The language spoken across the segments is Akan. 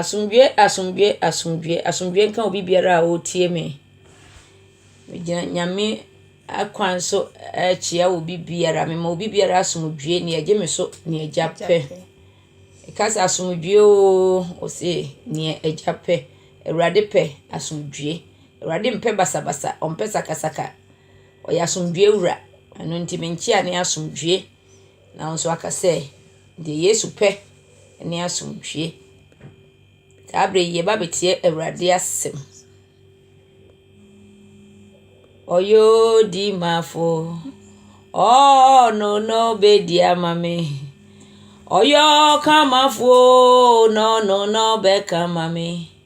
Asomdwoe, asomdwoe, asomdwoe, asomdwoe nka obi biara a ɔretie me. Megyina Nyame akwan so rekyia obi biara. Mema obi biara asomdwoe, nea ɛgye me so, nea Agya pɛ. Meka sɛ asomdwoe oo, ɔse nea Agya pɛ. Awurade pɛ asomdwoe. Awurade mpɛ basabasa, ɔmpɛ sakasaka. Ɔyɛ asomdwoe wura, ɛno nti me nkyea ne asomdwoe. Na wo nso woaka sɛ, Deɛ Yesu pɛ ne asomdwoe. Saa berɛ yi, yɛreba abɛtie Awurade asɛm. Ɔyɛ odimafoɔ, ɔno na ɔbɛdi ama me. Ɔyɛ ɔkamafoɔ oo, na ɔno na ɔbɛka ama me.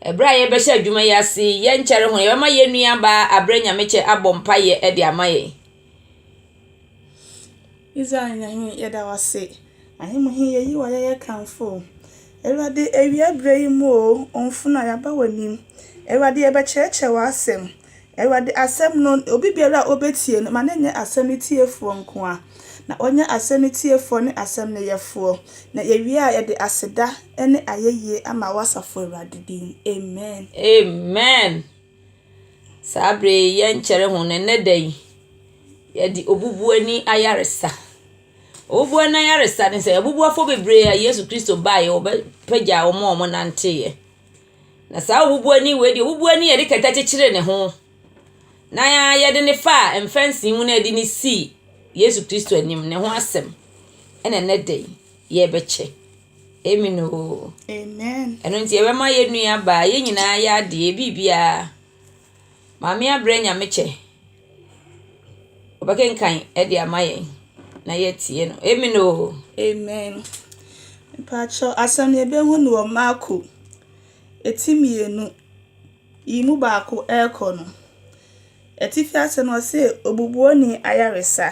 Bere a yɛrebɛhyɛ adwuma yi ase yi, yɛnkyɛre ho na yɛbɛma yɛn nuabaa Abrɛ Nyamekyɛ abɔ mpaeɛ de ama yɛn. Israel Nyame, yɛda wo ase. Ahemmu he, yeyi w'ayɛyɛ kamfo wo. Awurade, awia berɛ yi mu oo, wo mfona, yɛaba w'anim. Awurade, yɛbɛkyerɛkyerɛ w'asɛm. Awurade asɛm no, obi biara a ɔbɛtie no, ma no nyɛ asɛm no tiefoɔ nko ara, na ɔnyɛ asɛm no tiefoɔ ne asɛm no yɛfoɔ, na yɛwie a yɛde aseda ne ayɛyie ama wo asafo Awurade din. Amen. Amen. Saa berɛ yi yɛnkyɛre ho no, ɛnnɛ da yi, yɛde obubuani ayaresa. Obubuani ayaresa ne sɛ, abubuafoɔ bebree a Yesu Kristo baeɛ, ɔbɛpagyaa wɔn a wɔnanteeɛ. Na saa obubuani wei deɛ, obubuani a yɛde kɛtɛ kyekyere ne ho na yɛde no faa mfɛnse mu na yɛde no sii Yesu Kristo anim, ne ho asɛm na ɛnnɛ da yi yɛrebɛkyɛ. Amen oo. Amen. Ɛno nti yɛbɛma yɛn nuabaa, yɛn nyinaa yɛ adeɛ, biribiara. Maame abrɛ nyame kyɛ. Ɔbɛkenkan de ama yɛn na yɛatie no. Amen o. Amen. Mpakyɛ asɛm yɛbɛhu no wɔ Marko ɛti mmienu yi mu baako ɛrekɔ no. Atifi asɛm no ɔse obubuoni ayaresa.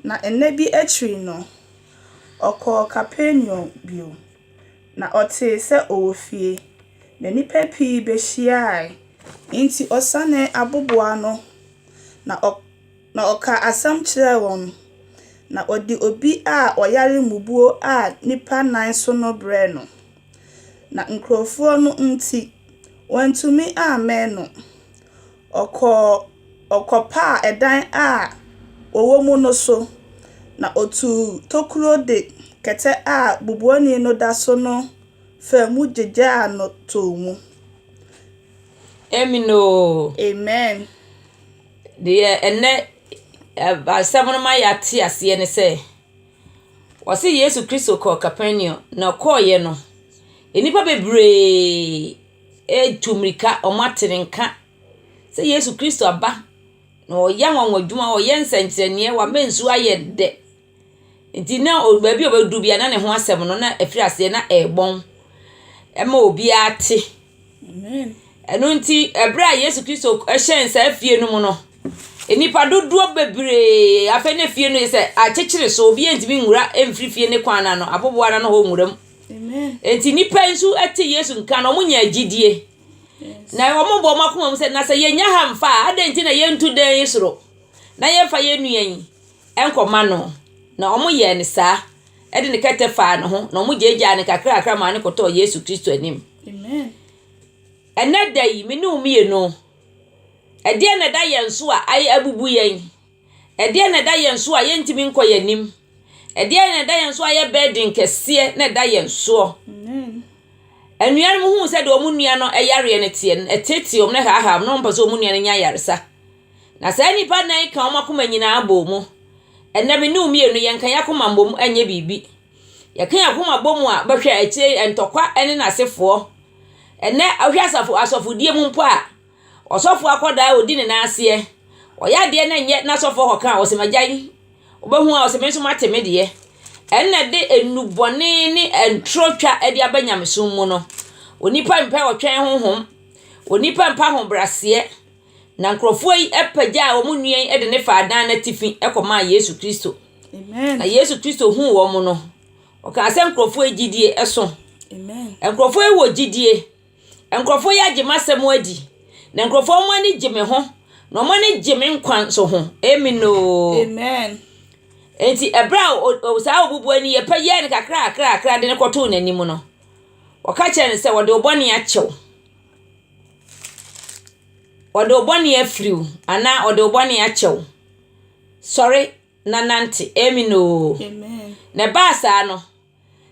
Na ɛnɛ bi akyiri no ɔkɔɔ Kapernaum bio. Na ɔtee sɛ ɔwɔ fie, na nnipa pii bɛhyiaae. Enti ɔsanee aboboaa ano, na ɔ, na ɔkaa asɛm kyerɛɛ wɔn. Na ɔde obi a ɔyare mmubuo a nnipa nnan so no brɛɛ no. Na nkurɔfoɔ no nti, wɔantumi ammɛn no. Ɔkɔɔ, ɔkɔpaa ɛdan a wɔwɔ mu no so, na otuu tokuro de kɛtɛ a bubuani no da so no faa mu gyegyaa no too mu. Amen oo. Amen. Deɛ ɛnɛ asɛm no ma yɛate aseɛ ne sɛ, wɔse Yesu Kristo kɔɔ Kapernaum, na ɔkɔeɛ no, nnipa bebree. retu mmirika, wɔate ne nka sɛ Yesu Kristo aba, na ɔreyɛ anwanwa adwuma, ɔreyɛ nsɛnkyerɛnneɛ, wama nsuo ayɛ dɛ. Nti na ɔ baabi a ɔbɛduru biara na ne ho asɛm no na ɛfiri aseɛ na ɛrebɔn ma obiara te. Ɛno nti berɛ a Yesu Kristo hyɛɛn saa fie no mu no, nnipa dodoɔ bebree, afei na fie no ayɛ sɛ akyekyere so, obiara ntumi nwura mfiri fie no kwan no ano, aboboano hɔ nwura mu. Enti nnipa yi nso te Yesu nka na wɔnya gyidie. Na wɔbɔ wɔn akoma mu sɛ, na sɛ yɛnya ha mfa a, adɛn nti na yɛntu dan yi soro na yɛmfa yɛn nua yi nkɔma no? Na wɔyɛɛ no saa. Ɛde ne kɛtɛ faa ne ho, na wɔgyaagyaa no kakrakakra maa no kɔtɔɔ Yesu Kristo anim. Ɛnɛ da yi, me ne wo mmienu, ɛdeɛ na ɛda yɛn so a abubu yɛn? Ɛdeɛn na ɛda yɛn so a yɛntumi nkɔ yɛn anim? Ɛdeɛn na ɛda yɛn so a yɛ burden kɛseɛ na ɛda yɛn soɔ? Anuanom huu sɛ deɛ wɔn nua no yareɛ no teɛ no, ɛteetee wɔn na ɛhaahaa wɔn na wɔmpɛ sɛ wɔn nua no nya ayaresa. Na saa nnipa nnan yi ka wɔn akoma nyinaa bɔɔ mu. Ɛnɛ me ne wo mmienu yɛnka yɛn akoma mmom ɛnyɛ biribi. Yɛka yɛn akoma bɔ mu a bɛhwɛ akyire ntɔkwa ne n'asefoɔ. Ɛnɛ wohwɛ asafo asɔfodie mu mpo a, Ɔsɔfo akwadaa a ɔdi ne nan aseɛ. Ɔyɛ adeɛ no nyɛ n'asɔfoɔ hɔ kane. Ɔsɛ m'agya yi. Wobɛhu a ɔsɛ me nso mate me deɛ. Ɛnna ɛde nnubɔne ne ntorotwa de aba nyamesom mu no. Onipa mpɛ ɔtwɛn honhom. Onipa mpɛ ahobrɛaseɛ. Na nkurɔfoɔ yi pagyaa wɔn nua yi de no faa dan no atifi kɔmaa Yesu Kristo. Na Yesu Kristo huu wɔn no, ɔkaa sɛ nkurɔfoɔ yi gyidie so. Nkurɔfoɔ yi wɔ gyidie. Nkurɔfo yi agye m'asɛm adi, na nkurɔfo wɔn ani gye me ho, na wɔn ani gye me nkwa nso ho. Amen oo. Amen. Enti ɛberɛ a saa obubuani yɛ pɛ yɛɛ no kakrakrakra de no kɔtoo n'anim no, wɔka kyerɛ no sɛ wɔde wo bɔne akyɛw. Wɔde wo bɔne afiri wo anaa wɔde wo bɔne akyɛw. Sɔre na nante. Amen oo. Amen. Na ɛbaa saa no,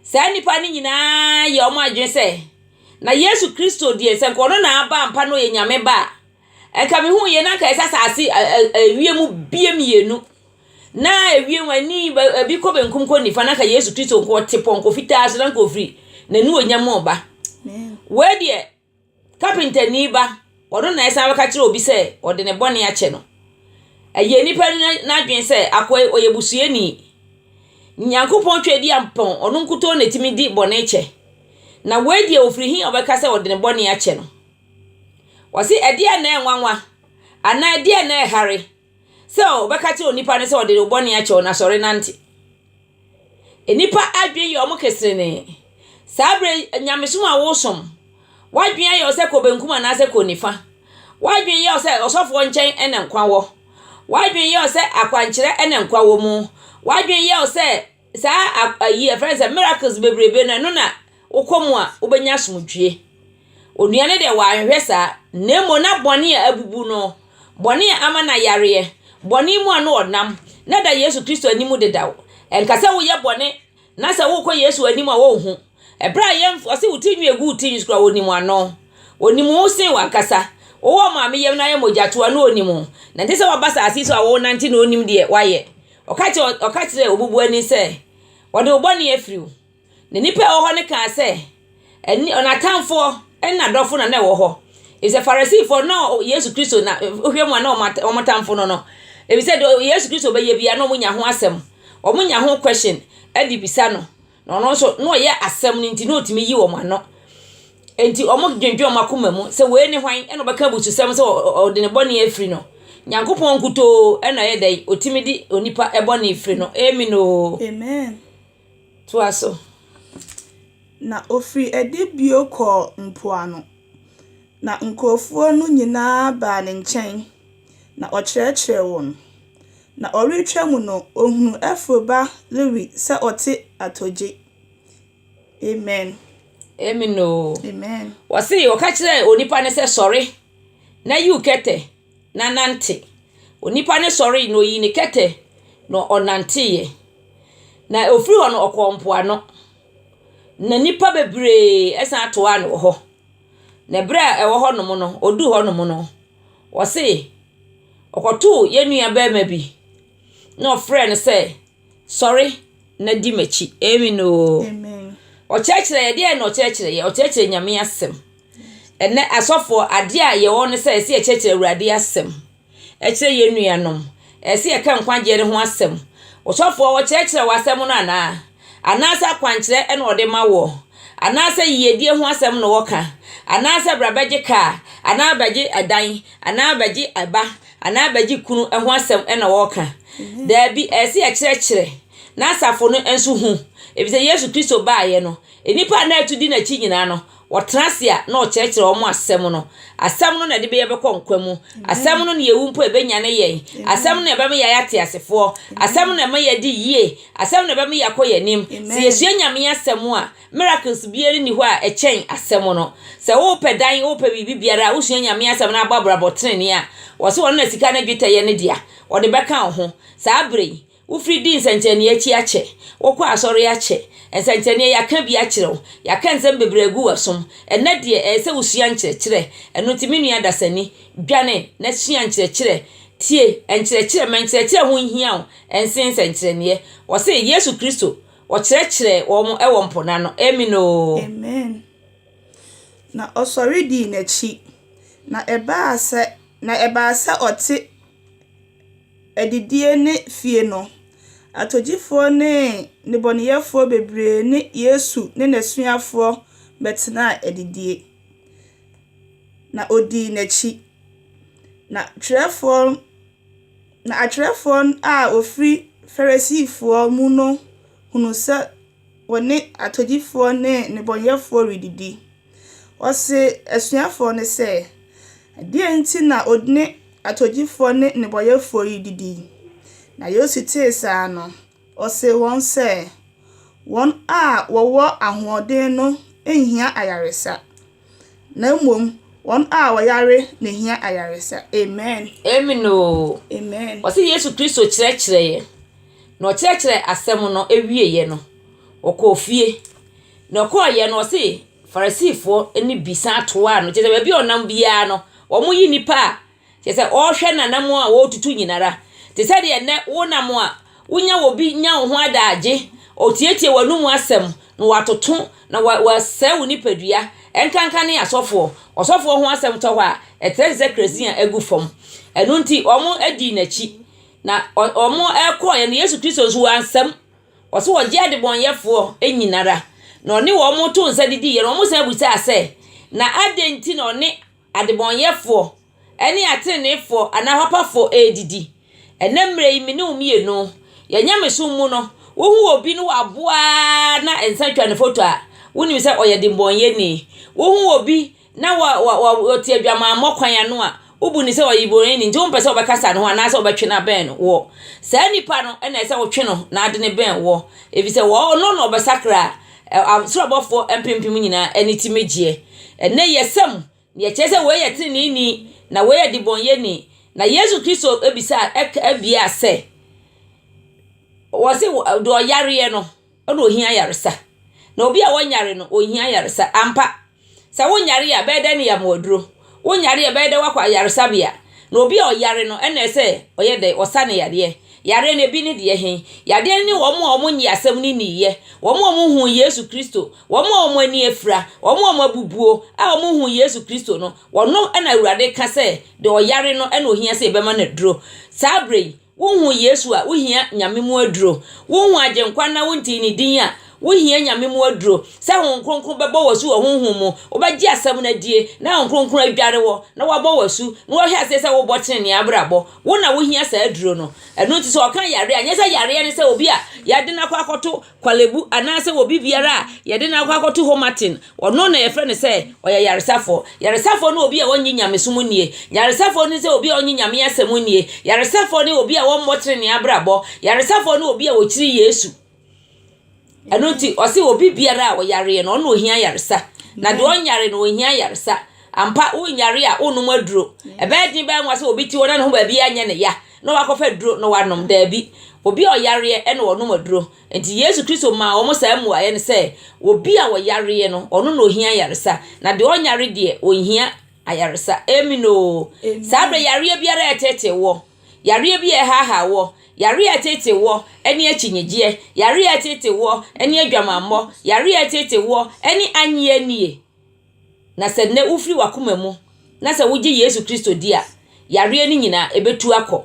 Saa nnipa no nyinaa yɛɛ wɔn adwene sɛ, Na Yesu Kristo deɛ, sɛ anka ɔno na aba ampa na ɔyɛ Nyame Ba a, anka mehuiɛ na anka ɛsɛ asase ewiem bie mmienu, na ewiem ani ebi kɔ benkum kɔ nifa, na anka Yesu Kristo nko ɔte pɔnkɔ fitaa so, na anka ɔfiri n'anuonyam mu reba. Wei deɛ. Kapentani ba, ɔno na ɛsan bɛka kyerɛ obi sɛ ɔde ne bɔne akyɛ no. Ɛyɛ nnipa n'adwene sɛ akoa yi ɔyɛ busuani. Nyankopɔn Twɛdiampɔn, ɔno nkutoo na ɛtumi di bɔne kyɛ. Na wei deɛ ɔfiri he ɔbɛka sɛ ɔde ne bɔne akyɛ no? Ɔse ɛdeɛn na ɛnwanwa? Anaa ɛdeɛn na ɛhare? sɛ ɔbɛka kyerɛ onipa no sɛ ɔde ne bɔne akyɛ wo na sɔre nante. Nnipa adwene yɛ wɔn keserenee. Saa berɛ yi, nyamesom a wosom, w'adwene ayɛ wo sɛ kɔ benkum anaasɛ kɔ nifa. W'adwene yɛ wo sɛ ɔsɔfoɔ nkyɛn na nkwa wɔ. W'adwene yɛ wo sɛ akwankyerɛ na nkwa wɔ mu. W'adwene yɛ wo sɛ Saa a ayi yɛfrɛ no sɛ miracles bebrebe no, ɛno na wokɔ mu a wobɛnya asomdwoeɛ. Onua no deɛ wanhwɛ saa, na mmom na bɔne a abubu no, bɔne a ama no ayareɛ, bɔne mu a na ɔnam, na ɛda Yesu Kristo anim dedaw. Ɛnka sɛ woyɛ bɔne na sɛ wokɔ Yesu anim a ɔnhu. Ɛberɛ a yɛn ɔse wo ti nwi agu wo ti nwi so koraa ɔnim wo ano. Ɔnim wo sen w'ankasa. Wowɔ maame yam na ayɛ mogyatoa no ɔnim wo. Na ɛnte sɛ waba asase yi so a wonante na ɔnnim deɛ woayɛ. Ɔka kyerɛ, ɔka kyerɛɛ obubuani sɛ, Wɔde wo bɔne afiri wo. Na nnipa a ɛwɔ hɔ no kaa sɛ, Ɛne, ɔno atamfoɔ ne n'adɔfo na na ɛwɔ hɔ. Efisɛ Farisifoɔ no, na Yesu Kristo na, wohwɛ mu a na wɔn, wɔn atamfo no no. Efisɛ deɛ Yesu Kristo bɛyɛ biara na wɔnya ho asɛm, wɔnya ho question de bisa no. Na ɔno nso, na ɔyɛ asɛm no nti, na otumi yi wɔn ano. Enti wɔdwendwen wɔn akoma mu sɛ, Wei ne hwan na ɔbɛka abususɛm sɛ ɔde ne bɔne afiri no? Nyankopɔn nkutoo na ɛyɛ dɛn? Otumi de onipa bɔne firi no. Amen oo. Amen. Toa so. Na ɔfirii adi bio kɔɔ mpoano, na nkurɔfoɔ no nyina ara baa ne nkyɛn, na ɔkyerɛkyerɛɛ wɔn. Na ɔretwa mu no, ɔhunuu Ɛfro ba Lewi sɛ ɔte atogye. Amen. Amen o. Amen. Wɔse wɔka kyerɛɛ onipa no sɛ sɔre na yiw kɛtɛ na nante. Onipa no sɔree na oyii ne kɛtɛ na ɔnanteeɛ. Na ɔfiri hɔ no ɔkɔɔ mpoano. Na nnipa bebree san toaa no wɔ hɔ. Na berɛ a ɛwɔ hɔnom no, ɔduu hɔnom no, Wɔse ɔkɔtoo yɛn nua barima bi na ɔfrɛɛ no sɛ, sɔre na di m'akyi. Amen oo. Amen. Ɔkyerɛkyerɛ yɛ deɛ na ɔkyerɛkyerɛ yɛ, ɔkyerɛkyerɛ Nyame asɛm. Ɛnɛ asɔfoɔ adeɛ a yɛwɔ ne sɛ ɛsɛ yɛkyerɛkyerɛ Awurade asɛm. Ɛkyerɛ yɛn nuanom. Ɛsɛ yɛka nkwagyeɛ no ho asɛm. Ɔsɔfoɔ wɔkyerɛkyerɛ wɔ asɛm no anaa? anaasɛ akwankyerɛ na wɔde ma woɔ, anaasɛ yiedie ho asɛm na wɔka, anaasɛ bra bɛgye kaa, anaa bɛgye ɛdan, anaa bɛgye ɛba, anaa bɛgye kunu ho asɛm na wɔka. Daabi, ɛyɛ sɛ yɛkyerɛkyerɛ na asafo no nso hu, ɛfiri sɛ Yesu Kristo baeɛ no, nnipa a na ɛtu di n'akyi nyinaa no, Wɔtena ase a, na ɔkyerɛkyerɛ wɔn asɛm no. Asɛm no na ɛde bɛyɛ bɛkɔ nkwa mu. Asɛm no na yɛwu mpo ɛbɛnyane yɛn. Asɛm no na ɛbɛma yɛayɛ ateasefoɔ. Asɛm no na ɛma yɛadi yie. Asɛm no na ɛbɛma yɛakɔ yɛn anim. Sɛ yɛsua Nyame asɛm a, miracles biara nni hɔ a ɛkyɛn asɛm no. Sɛ wopɛ dan, wopɛ biribi biara a, wosua Nyame asɛm na abɔ abrabɔ tenenee a, wɔse ɔno na sika ne dwetɛ yɛ ne dea. Ɔde bɛka wo ho. Saa berɛ yi, Wofiri di nsɛnkyerɛnee akyi akyɛ, wokɔ asɔre akyɛ, nsɛnkyerɛnee yɛaka bi akyerɛ wo, yɛaka nsɛm bebree agu w'asom, ɛnnɛ deɛ ɛyɛ sɛ wosua nkyerɛkyerɛ, ɛno nti me nua dasani, dwane na sua nkyerɛkyerɛ, tie nkyerɛkyerɛ, ma nkyerɛkyerɛ ho nhia wo nsen nsɛnkyerɛneɛ, wɔse Yesu Kristo ɔkyerɛkyerɛɛ wɔn wɔ mpo no ano, Amen oo. Amen. Na ɔsɔre dii n'akyi, na ɛbaa sɛ, na ɛbaa sɛ ɔte. adidie ne fie no, atogyifoɔ ne nnebɔneyɛfoɔ bebree ne Yesu ne n'asuafoɔ bɛtenaa adidie, na wɔdii n'akyi. Na twerɛfoɔ, na atwerɛfoɔ a wɔfiri Farisifoɔ mu no hunuu sɛ. Wɔne atɔdifoɔ ne nnebɔneyɛfoɔ redidi. Ɔse asuafoɔ no sɛ, Deɛn nti na odne atɔdifoɔ ne nnebɔyɛfoɔ redidi? Na Yesu tee saa no, ɔsee wɔn sɛ, Wɔn a wɔwɔ ahoɔden no nhia ayaresa, Na mmom wɔn a wɔyare na hia ayaresa. Amen. Amen oo. Amen. Wɔsi Yesu Kristo kyerɛkyerɛ yɛ. Na ɔkyerɛkyerɛ asɛm no ewie yɛ no, ɔkɔɔ fie. Na ɔkɔɔ yɛ no ɔsi Farisifoɔ ne bi san toaa no. Kyerɛ sɛ baabi a ɔnam biara no, wɔn yi nipa a Kyerɛ sɛ, ɔrehwɛ n'anammɔn a ɔretutu nyinara. Te sɛ deɛ nnɛ wonam a, wonya obi nya wo ho adaagye, ɔtietie w'anomu asɛm, na watoto, na wa, wasɛe wo nipadua. Ɛnkanka ne asɔfoɔ. Ɔsɔfoɔ ho asɛm tɔ hɔ a, ɛtrɛ te sɛ kerɛsin a agu fam. Ɛno nti, wɔdii n'akyi. Na ɔ, wɔkɔeɛ no, Yesu Kristo nso, wansam. Ɔse ɔgye adebɔnyɛfoɔ nyinara, na ɔne wɔn too nsa didiiɛ no, wɔsan bisaa sɛ, Na adɛn nti na ɔne. Adebɔneyɛfoɔ ne ateneneefoɔ anaa papafoɔ redidi. Ɛnnɛ mmerɛ yi, me ne wo mmienu, yɛn nyamesom mu no, wohu obi ne waboa ara na nsa twa ne foto a, wonim sɛ ɔyɛ debɔneyɛni. Wohu obi na wa, wa, wa, ɔte adwamammɔ kwan ano a, wobu no sɛ ɔyɛ debɔneyɛni nti wompɛ sɛ wobɛkasa ne ho anaasɛ wobɛtwe no abɛn no wɔ. Saa nipa no na ɛsɛ wotwe no na ade no bɛn wɔ, ɛfiri sɛ wɔ, ɔno na ɔbɛsakra Soro abɔfoɔ mpempem nyinaa ani te me gyeɛ. Ɛnnɛ yɛsa mu, na yɛkyerɛ sɛ wei yɛ teneneeni, na wei yɛ debɔnyɛni. Na Yesu Kristo bisaa, ɛka, biaa sɛ, wɔse deɛ ɔyareɛ no na ɔhia ayaresa, na obi a ɔnyare no ɔnhia ayaresa ampa. Sɛ wonyare a, ɛbɛyɛ dɛn na yɛama wo aduro? Wonyare a, ɛbɛyɛ dɛn na woakɔ ayaresabea? Na obi a ɔyare no, ɛnna ɛsɛ sɛ ɔyɛ dɛn? Ɔsa no yadeɛ. Yareɛ no, ebi ne deɛ he? Yadeɛ no ne wɔn a wɔnnye asɛm no nniiɛ, wɔn a wɔnhuu Yesu Kristo, wɔn a wɔn ani afira, wɔn a wɔabubuo a wɔnhuu Yesu Kristo no, wɔno na Awurade ka sɛ deɛ ɔyare no na ohia sɛ yɛbɛma no aduro. Saa berɛ yi, Wonhu Yesu a, wohia Nyame mu aduro. Wonhu Agyenkwa na wontee Ne din a, wohia Nyame mu aduro. Sɛ Honhom Kronkron bɛbɔ wo asu wɔ Honhom mu, wobɛgye Asɛm no adie, na Honhom Kronkron adware wo, na wabɔ wo asu, na wahwɛ aseɛ sɛ wobɔ tenenee abrabɔ. Wo na wohia saa aduro no. Ɛno nti sɛ ɔka yareɛ a, nyɛ sɛ yareɛ ne sɛ obi a yɛde no akɔ akɔto Kwalebu anaasɛ obi biara a yɛde no akɔ akɔto hɔ maten, ɔno na yɛfrɛ no sɛ ɔyɛ yaresafoɔ. Yaresafoɔ ne obi a ɔnnye nyamesom nnie. Yaresafoɔ ne sɛ obi a ɔnnye Nyame asɛm nnie. Yaresafoɔ ne obi a ɔmmɔ trenee abrabɔ. Yaresafoɔ ne obi a ɔkyiri Yesu. Ɛno nti, ɔse obi biara a ɔyareɛ no, ɔno na ɔhia yaresa. Na deɛ ɔnyare no, ɔnhia yaresa. Ampa, wonyare a, wonnom aduro. Ɛbɛyɛ den, ɛbɛyɛ nwa sɛ obi te hɔ na ne ho baabiara nyɛ ne ya. na wakɔfa aduro na wanom? Daabi. Obi a ɔyareɛ na ɔnom aduro. Enti Yesu Kristo maa wɔn saa mmuaeɛ no sɛ, Obi a ɔyareɛ no, ɔno na ɔhia ayaresa, na deɛ ɔnyare deɛ, ɔnhia ayaresa. Amen oo. Saa berɛ yareɛ biara a ɛreteetee woɔ, yareɛ bi a ɛrehaahaa woɔ, yareɛ a ɛteetee woɔ ne akyinnyegyeɛ, yareɛ a ɛteetee woɔ ne adwamammɔ, yareɛ a ɛteetee woɔ ne annie annie, Na sɛ nnɛ wofiri w'akoma mu na sɛ wogye Yesu Kristo di a, yareɛ no nyinaa, ɛbɛtu akɔ.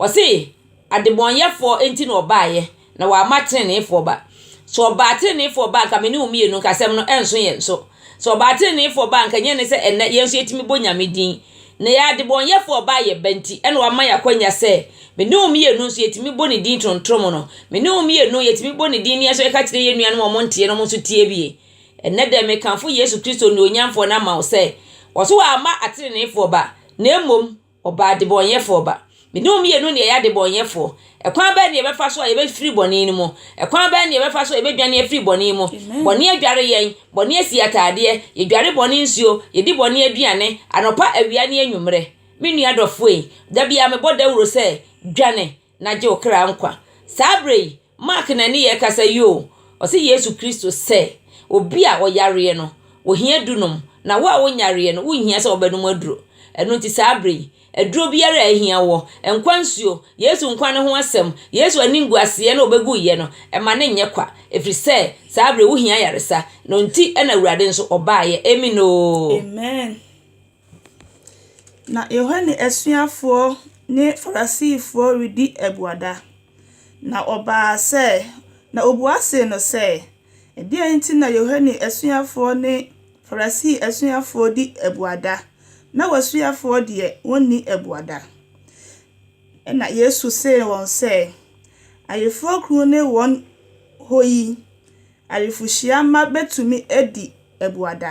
Ɔse, adebɔnyɛfoɔ nti na ɔbaeɛ, na wamma teneneefoɔ ba. Sɛ ɔbaa teneneefoɔ ba a, anka me ne wo mmienu nka asɛm no ɛnso yɛn so. Sɛ ɔbaa teneneefoɔ ba a, anka ɛnyɛ ne sɛ ɛnnɛ yɛn nso yɛtumi bɔ Nyame din. Na yɛn adebɔnyɛfoɔ a ɔbaa yɛn ba nti, ɛna wama yɛn akwanya sɛ, me ne wo mmienu nso yɛtumi bɔ ne din tontrom no. Me ne wo mmienu yɛtumi bɔ ne din na yɛn nso yɛka kyerɛ yɛn nuanom a wɔnteɛ no, wɔn nso tie bi. Ɛnnɛ da yi mekamfo Yesu Kristo nuonyamfoɔ no ama wo sɛ, ɔse wamma ateneneefoɔ ba, na mmom ɔbaa adebɔnyɛfoɔ ba. Me ne wo mmienu na yɛyɛ adebɔnyɛfoɔ. Ɛkwan bɛn na yɛbɛfa so a yɛbɛfiri bɔne no mu? Ɛkwan bɛn na yɛbɛfa so a yɛbɛdwane afiri bɔne mu? Bɔne adware yɛn, bɔne asi ataadeɛ, yɛdware bɔne nsuo, yɛdi bɔne aduane, anɔpa, awia ne anwummerɛ. Me nua dɔfoɔ yi, da biara mebɔ dawuro sɛ, dwane na gye wo kra nkwa. Saa berɛ yi, Mark na ne yɛ kasa yi o, ɔse Yesu Kristo sɛ obi a ɔyareɛ no ohia dunom na wo a wonyareɛ no wonhia sɛ wobɛnom aduro. Ɛno nti saa berɛ yi aduro biara a ahia woɔ, nkwa nsuo, Yesu nkwa no ho asɛm, Yesu animguaseɛ na ɔbɛguiɛ no ma no nyɛ kwa ɛfiri sɛ saa berɛ yi wohia ayaresa na ɔnti na Awurade nso ɔbaeɛ. Amen oo. Amen. Na Yohane asuafoɔ ne Farisifoɔ redi abuada. Na ɔbaa sɛ, na ɔbua see no sɛ, Ɛdeɛn nti na Yohane asuafoɔ ne Farisii asuafoɔ di abuada, na w'asuafoɔ deɛ wɔnni abuada? Ɛnna Yesu see wɔn sɛ, Ayeforɔkunu ne wɔn hɔ yi, ayeforɔhyia mma bɛtumi adi abuada?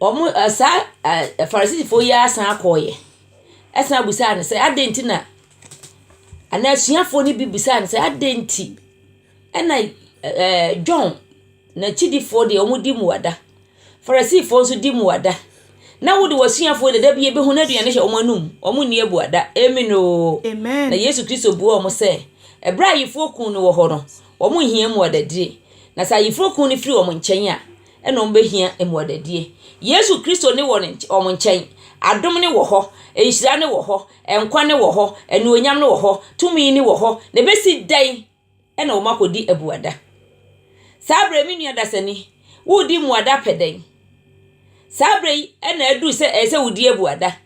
Wɔn a saa a Farisifoɔ yi ara san kɔeɛ san bisaa no sɛ, adɛn nti na anaa asuafoɔ no bi bisaa no sɛ, adɛn nti na ɛ ɛɛ John n'akyidifoɔ deɛ, wɔdi mmuada, Farisifoɔ nso di mmuada, na wo de w'asuafoɔ deɛ, da biara yɛbɛhu no aduane hyɛ wɔn anom, wɔnni abuada. Amen oo. Amen. Na Yesu Kristo buaa wɔn sɛ, ɛberɛ a ayeforɔkunu no wɔ hɔ no, wɔnhia mmuadadie. Na sɛ ayeforɔkunu no firi wɔn nkyɛn a, na wɔbɛhia mmuadadie. Yesu Kristo ne wɔ ne nky wɔn nkyɛn. Adom no wɔ hɔ, nhyira no wɔ hɔ, nkwa no wɔ hɔ, anuonyam no wɔ hɔ, tumi no wɔ hɔ. Na ɛbɛsi dɛn na wɔakɔdi abuada? Saa berɛ yi, me nua dasani, woredi mmuada pɛ dɛn? Saa berɛ yi na aduru sɛ ɛsɛ sɛ wodi abuada.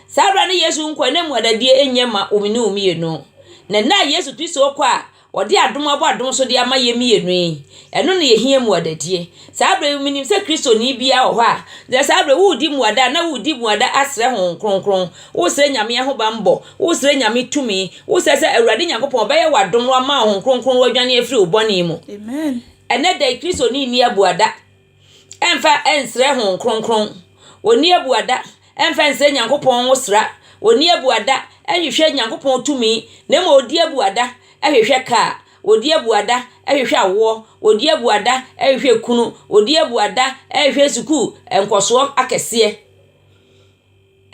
Saa berɛ no Yesu nkwa nna mu adadie nyɛ ma wo ne wo mmienu. Na nna a Yesu Kristo kɔ a ɔde adom abɔ adom so de ama yɛn mmienu yi, ɛno na yɛhia mu adadie. Saa berɛ yi menim sɛ Kristoni biara wɔ hɔ a, gyina saa berɛ yi woredi mmuada anaa woredi mmuada asrɛ Honhom Kronkron, woresrɛ Nyame ahobanbɔ, woresrɛ Nyame tumi, woresrɛ sɛ Awurade Nyankopɔn ɔbɛyɛ wo adom na wama wo Honhom Kronkron na wadwane afiri wo bɔne mu. Ɛnnɛ da yi Kristoni nni abuada. ɛmfa nsrɛ Honhom Kronkron. Wɔnni abuada ɛmfa nsrɛ Nyankopɔn nwosra. Wɔnni abuada ɛnhwehwɛ Nyankopɔn tumi, na mmom wɔdi abuada ɛhwehwɛ kaa, wɔdi abuada ɛhwehwɛ awoɔ, wɔdi abuada ɛhwehwɛ kunu, wɔdi abuada ɛhwehwɛ sukuu nkɔsoɔ akɛseɛ.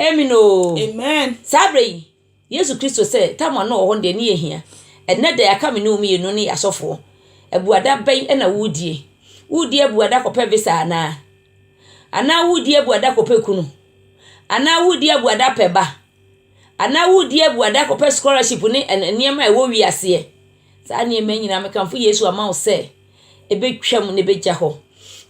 Amen oo. Amen. Saa berɛ yi. Yesu Kristo sɛ Tamar no wɔ hɔ no deɛ, ne yɛ hia. Ɛnnɛ da yi, aka me ne wo mmienu ne yɛ asɔfoɔ. Abuada bɛn na woredie? Woredi abuada kɔpɛ visa anaa? Anaa woredi abuada kɔpɛ kunu? Anaa woredi abuada pɛ ba? Anaa woredi abuada kɔpɛ scholarship ne nneɛma a ɛwɔ wiaseɛ? Saa nneɛma nyinaa mekamfo Yesu ama wo sɛ, ɛbɛtwam na ɛbɛgya hɔ.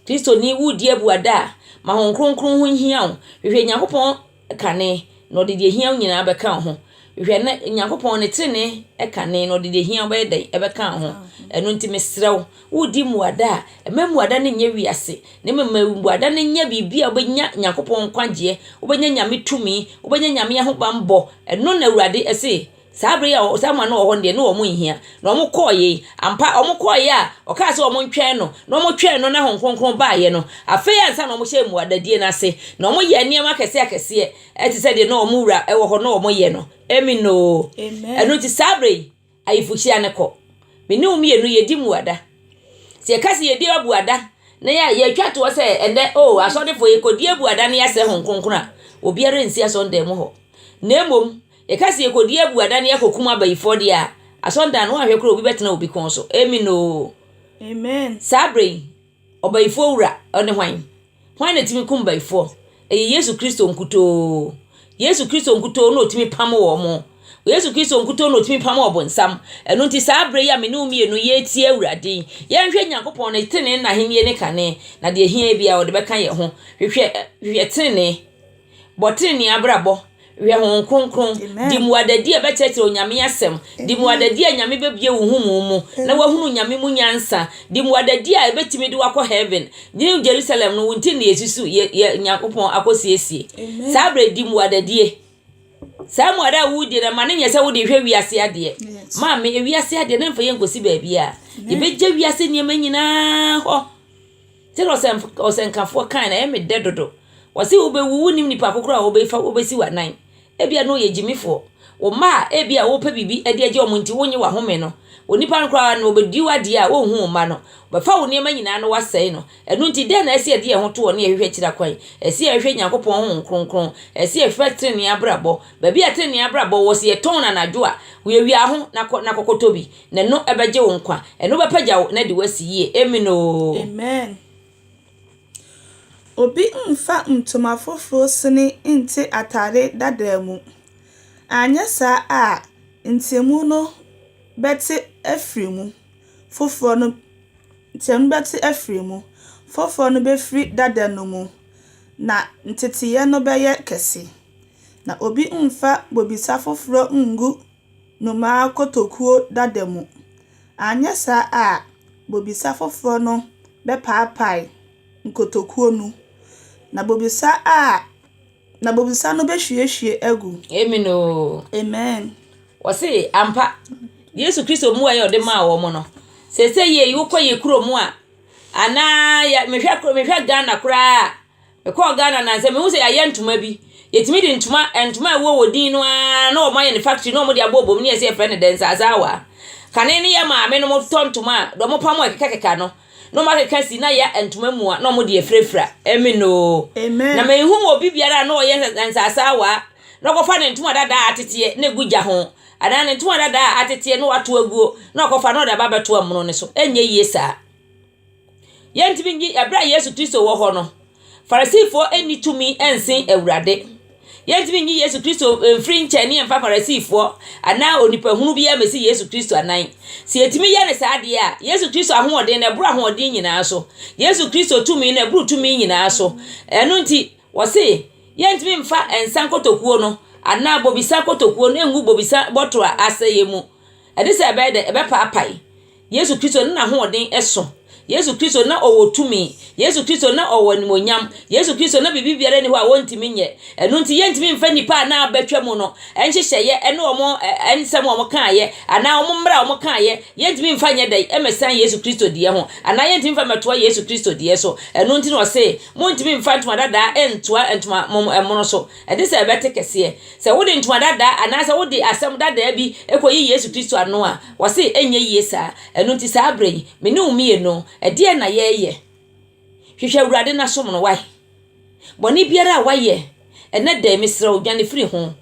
Kristoni, woredi abuada a, ma Honhom Kronkron ho nhia wo. Hwehwɛ Nyankopɔn kane, na ɔde deɛ ɛhia wo nyinaa bɛka wo ho. Hwɛ, na Onyankopɔn ɔne tenenee kane, na ɔde deɛ ɛhia wo bɛyɛ dɛn? Ɛbɛka wo ho. Ɛno nti mesrɛ wo, woredi mmuada a, mma mmuada no nyɛ wiase, na mmom ma mmuada no nyɛ biribi a wobɛnya Onyankopɔn nkwagyeɛ, wobɛnya Nyame tumi, wobɛnya Nyame ahobammɔ. Ɛno na Awurade se. Saa bere yi a Samuel no wɔ hɔ no deɛ, na wɔn nhia. Na wɔn kɔɔeɛ yi, ampa, wɔn kɔɔeɛ a ɔkaa sɛ wɔn ntwɛn no, na wɔn twɛn no na Honhom Kronkron baaeɛ no, afei ansa na wɔn hyɛɛ mmuadadie no ase, na wɔn yɛɛ nneɛma akɛseɛ akɛseɛ, ɛte sɛ deɛ na wɔn Wura wɔ hɔ na wɔn yɛ no. Amen oo. Ɛno nti saa bere yi, ayefokyia no kɔ. Me ne wo mmienu yɛ di mmuada. Sɛ yɛ ka sɛ yɛ di abuada, na yɛ, yɛ twa toɔ sɛ ɛnɛ oo asɔrefoɔ yɛ kɔ di abuada na yɛ asrɛ Honhom Kronkron a, obiara nsi asɔredan mu hɔ. Na mmom, Yɛka sɛ yɛkɔdi abuada ne yɛakɔkum abayifoɔ deɛ a, asɔndan no woanhwɛ koraa obi bɛtena obi kɔn so. Amen oo. Amen. Saa berɛ yi, ɔbayifoɔ wura, ɔne hwan? Hwan na ɛtumi kum bayifoɔ? Ɛyɛ Yesu Kristo nkutoo. Yesu Kristo nkutoo na ɔtumi pamo wɔn. Yesu Kristo nkutoo na ɔtumi pamo ɔbonsam. Ɛno nti saa berɛ yi a me ne wo mmienu yɛretie Awurade yi, yɛnhwɛ Nyankopɔn ne tenenee ne n'ahennie ne kane, na deɛ ɛhia biara ɔde bɛka yɛn ho. Hwehwɛ, hwehwɛ tenenee. Bɔ trenee abrabɔ, hwɛ Honhom Kronkron, di mmuadadi a ɛbɛkyerɛkyerɛ Onyame Asɛm, di mmuadadi a Nyame bɛbue wo nhumu mu na wahunu Nyame mu nyansa, di mmuadadi a ɛbɛtumi de wo akɔ Heaven. New Jerusalem no, wo nti na yɛsusu yɛ, yɛ Nyankopɔn akɔsiesie. Saa berɛ di mmuadadie. Saa mmuada a wodie no, ma no nyɛ sɛ wode hwɛ wiase adeɛ. Maame, ewiase adeɛ no mfa yɛn nkɔsi baabiara. Yɛbɛgya wiase nneɛma nyinaa hɔ. Sɛdeɛ ɔsɛmf ɔsɛnkafoɔ kaeɛ no, ɛyɛ me dɛ dodo. Wɔse wobɛwu, wonnim nipa ko koraa a wobɛfa wobɛsi wo anan. Ebia na ɔyɛ gyimifoɔ. Wo mma a ebia wopɛ biribi de agye wɔn nti wonnye w'ahome no, onipa no koraa no ɔbɛdi wo adeɛ a ɔnhu wo mma no. Ɔbɛfa wo nneɛma nyinaa na wasɛe no. Ɛno nti dɛn na ɛsɛ sɛ yɛde yɛn ho to hɔ na yɛhwehwɛ akyira kwan? Ɛsɛ sɛ yɛhwehwɛ Nyankopɔn Honhom Kronkron. Ɛsɛ sɛ yɛhwehwɛ tenenee abrabɔ. Baabi a tenenee abrabɔ wɔ, sɛ yɛtɔn no anadwo a, wiawia ho na kɔ na kɔkɔtɔ bi. Na ɛno bɛgye wo nkwa. Ɛno bɛpagya wo na de wo asi yie. Amen oo. Amen. Obi mmfa ntoma foforo sini nte atade dadaa mu, anyɛ saa a nteamu no bɛte afiri mu, foforɔ no nteamu no bɛte afiri mu, foforɔ no bɛfiri dada no mu, na nteteeɛ no bɛyɛ kɛse. Na obi mmfa bobesa foforɔ nngu nnomaa kotokuo dada mu, anyɛ saa a bobesa foforɔ no bɛpaapae nkotokuo no, na bobesa a, na bobesa no bɛhwiehwie agu. Amen o. Amen. Wɔse ampa Yesu Kristo mmuaeɛ a ɔde maa wɔn no, sɛ sɛ yei wokɔ yɛ kurom a, anaa yɛ mehwɛ mehwɛ Ghana koraa a, Mekɔɔ Ghana nnansa yi, mehu sɛ yɛayɛ ntoma bi. Yɛtumi de ntoma ntoma a ɛwɔ wɔ din no ara na wɔayɛ no factory na wɔde abobɔ mu na yɛse yɛfrɛ no dɛnsaasaawa. Kane no yɛ maamenom tɔ ntoma a deɛ wɔpam a ɛkekakeka no na wɔakeka si na ayɛ ntoma mua na wɔde afurafura. Amen oo. Amen. Na menhu obi biara a na ɔyɛ dɛnsaasaawa na ɔkɔfa ne ntoma dada a ateteɛ na ɛgu gya ho anaa ne ntoma dada a ateteɛ na wato aguo na ɔkɔfa na ɔde aba abɛto ɛmono no so. Ɛnyɛ yie saa. Yɛntumi nyi bere a Yesu Kristo wɔ hɔ no, Farisifo nni tumi nsen Awurade. Yɛntumi nyi Yesu Kristo mfiri nkyɛn ne yɛmfa Farisifo anaa onipahunu bi mmesi Yesu Kristo anan. Sɛ yɛtumi yɛ no saa deɛ a, Yesu Kristo ahoɔden no ɛboro ahoɔden nyinaa so. Yesu Kristo tumi no ɛboro tumi nyinaa so. Ɛno nti, wɔse yɛntumi mfa nsa nkotokuo no anaa bobesa kotokuo no ngu bobesa bɔtɔ a asɛeɛ mu. Ɛne sɛ ɛbɛyɛ dɛ ɛbɛpaapae. Yesu Kristo no n'ahoɔden sõ. Yesu Kristo na ɔwɔ tumi. Yesu Kristo na ɔwɔ animuonyam. Yesu Kristo na biribi biara nni hɔ a ɔntumi nyɛ. Ɛno nti, yɛntumi mfa nnipa a na abɛtwa mu no nhyehyɛeɛ ne wɔn nsɛm a wɔkaeɛ anaa wɔn mmara a wɔkaeɛ, yɛntumi mfa nyɛ dɛn mmɛsan Yesu Kristo deɛ ho anaa yɛntumi mfa mmɛtoa Yesu Kristo deɛ so. Ɛno nti na ɔse, Montumi mfa ntoma dadaa ntoa ntoma mono so. Ɛnte sɛ ɛbɛte kɛseɛ sɛ wode ntoma dadaa anaasɛ wode asɛm dadaa bi kɔyi Yesu Kristo ano a. Wɔse ɛnyɛ yie saa. Ɛno nti saa berɛ yi, me ne wo mmienu, ɛdeɛn na yɛreyɛ? Hwehwɛ Awurade na som no, wai? Bɔne biara a wayɛ ɛnnɛ da yi, mesrɛ wo, dwane firi ho.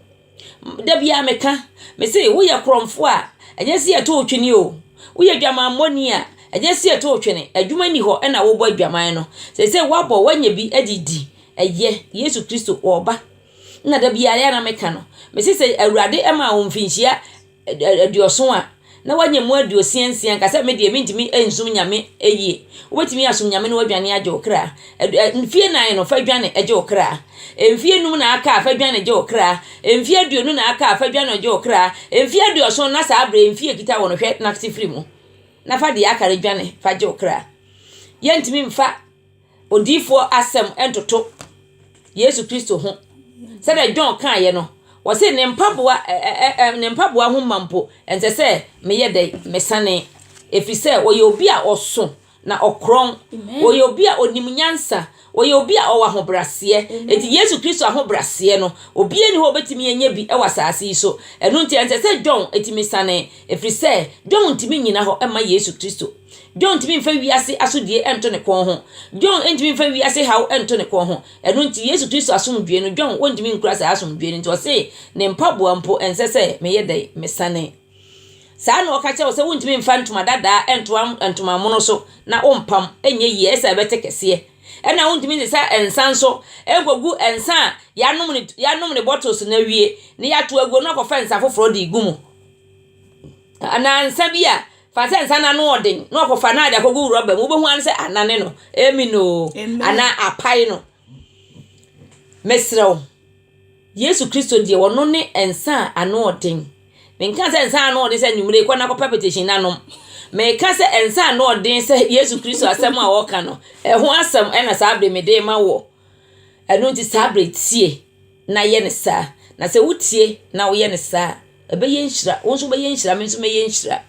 Da biara meka, mese woyɛ korɔmfoɔ a, ɛnyɛ sɛ yɛto wo twene o. Woyɛ dwamammɔni a, ɛnyɛ sɛ yɛto wo twene. Adwuma nni hɔ na wobɔ adwaman no. Seesei woabɔ, woanya bi de redi. Ɛyɛ, Yesu Kristo, ɔreba. Ɛna da biara, ɛyɛ a na meka no, mese sɛ Awurade maa wo mfirinhyia, aduɔson a, na wanya mu aduosia nsia, nka sɛ medeɛ mentumi nsom Nyame yie. Wobɛtumi asom Nyame na wadwane agye wo kra. Mfie nan no fa dwane gye wo kra. Mfie num na aka a fa dwane gye wo kra. Mfie aduonu na aka a fa dwane gye wo kra. Mfie aduɔson na saa berɛ mfie kita wo no hwɛ nase firi mu. Na fa deɛ aka no dwane fa gye wo kra. Yɛntumi mfa. odiyifoɔ asɛm ntoto Yesu Kristo ho. Sɛdeɛ John kaeɛ no, ɔse ne mpaboa ɛ ɛ ɛ ne mpaboa ho ma mpo ɛnsɛ sɛ meyɛ dɛ mesane, ɛfiri sɛ ɔyɛ obi a ɔso na ɔkorɔn, ɔyɛ obi a ɔnim nyansa, ɔyɛ obi a ɔwɔ ahobraseɛ. Eti Yesu Kristo ahobraseɛ no, obiara nni hɔ a ɔbɛtumi anya bi wɔ asase yi so. Ɛno nti ɛnsɛ sɛ John tumi sane, ɛfiri sɛ John ntumi nnyina hɔ mma Yesu Kristo. John ntumi mfa wiase asodie nto ne kɔn ho. John ntumi mfa wiase haw nto ne kɔn ho. Ɛno nti, Yesu Kristo asomdwoe no, John wɔntumi nkura saa asomdwoe no nti ɔse ne mpaboa mpo ɛnsɛ sɛ meyɛ dɛn? Mesane. Saa na ɔka kyerɛ wo sɛ wontumi mfa ntoma dadaa nto ntoma mono so na wompam nyɛ yie, ɛyɛ sɛ ɛbɛte kɛseɛ. Ɛna wontumi nsesa nsa nso nkɔgu nsa a yɛanom ne, yɛanom ne bottles no awie na yɛato aguo no akɔfa nsa foforɔ de regu mu. Nnansa bi a, fa sɛ nsa no ano yɛ den na ɔkɔfa no a de akɔgu rɔba mu. Wobɛhu ara ne sɛ anane no. Amen oo. Anaa apae no. Mesrɛ wo, Yesu Kristo deɛ, ɔno ne nsa a ano yɛ den. Menka sɛ nsa a ano yɛ den sɛ anwummere yi, kɔ na kɔpɛ apɛtɛhyin na nom. Meka sɛ nsa a ano yɛ den sɛ Yesu Kristo asɛm a ɔka no, ɛho asɛm na saa bere mede rema woɔ. Ɛno nti saa berɛ yi tie na yɛ no saa. Na sɛ wotie na woyɛ no saa a, ɛbɛyɛ nhyira. Wo nso wobɛyɛ nhyira, me nso mɛyɛ nhyira.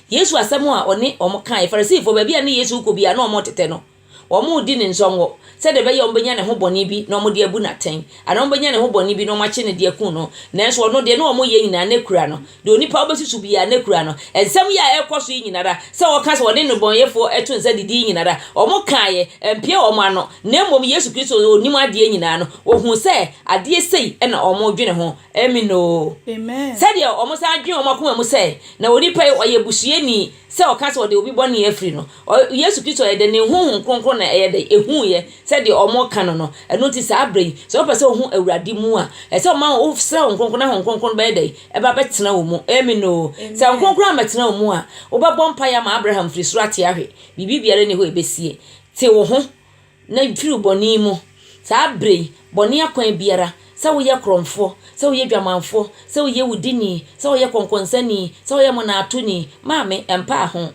Yesu asɛm a ɔne wɔn kaeɛ, Farisifoɔ, baabi a ne Yesu rekɔ biara na wɔretete no. Wɔredi ne nsɔngɔ sɛdeɛ ɛbɛyɛ a wɔbɛnya ne ho bɔne bi na wɔde abu no atɛn, anaa wɔbɛnya ne ho bɔne bi na wɔakye no de akum no. Nanso ɔno deɛ, na wɔyɛ nyinaa na ɛkura no. deɛ onipa ɔbɛsusu biara na kura no, nsɛm yi a ɛrekɔ so yi nyina ara, sɛ wɔka sɛ wɔne nnebɔneyɛfoɔ to nsa didi yi nyina ara, wɔkaeɛ, ɛmpeɛ wɔn ano, na mmom Yesu Kristo a ɔnim adeɛ nyinaa no, ɔhuu sɛ adeɛ sei na wɔredwene ho. Amen oo. Sɛdeɛ wɔsan dwene wɔn akoma mu sɛ, Na onipa yi, ɔyɛ busuani. Sɛ ɔka sɛ ɔde obi bɔne afiri no, Yesu Kristo yɛ dɛn? Ne Honhom Kronkron na ɛyɛ dɛn? Ehuuiɛ sɛ deɛ wɔreka no no. Ɛno nti saa berɛ yi, sɛ wopɛ sɛ wohu Awurade mu a, ɛsɛ sɛ woma wosrɛ Honhom Kronkron na Honhom Kronkron no bɛyɛ dɛn? Ɛba bɛtena wo mu. Amen oo. Sɛ Honhom Kronkron ammɛtena wo mu a, wobɛbɔ mpaeɛ ama Abraham firi soro ate ahwe. Biribi biara nni hɔ a ɛbɛsie. Te wo ho. Na mfiri wo bɔne mu. Saa berɛ yi, bɔne akwan biara, sɛ woyɛ korɔmfoɔ, sɛ woyɛ dwamanfoɔ, sɛ woyɛ wudini, sɛ woyɛ kɔnkɔnsani, sɛ woyɛ mmonnaatoni, maame, ɛmpaa ho.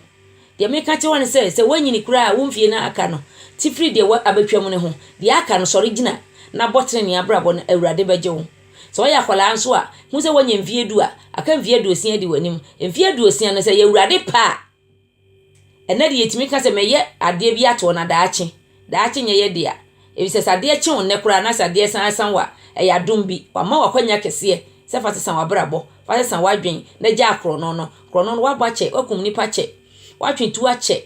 Deɛ meka kyerɛ wo ara ne sɛ, sɛ woanyini koraa a, wo mfeɛ no a aka no, te firi deɛ wo abɛtwam no ho. Deɛ aka no, sɔre gyina na bɔ tenenee abrabɔ na Awurade bɛgye wo. Sɛ woyɛ akwadaa nso a, hu sɛ woanya mfeɛ du a, aka mfeɛ aduosia adi w'anim. Mfeɛ aduosia no, sɛ ɛyɛ Awurade pɛ a, Ɛnnɛ deɛ yɛtumi ka sɛ mɛyɛ adeɛ bi ato hɔ na daakye, daakye nyɛ yɛ dea. Efisɛ sɛ adeɛ kye wo nnɛ koraa na sɛ adeɛ san sa wo a, ɛyɛ adom bi. Wama wo akwanya kɛseɛ sɛ fa sesa w'abrabɔ, fa sesa w'adwene na gyaa korɔno no. Korɔno no, w'abɔ akyɛ, w'akum nnipa kyɛ, w'atwe tuo akyɛ.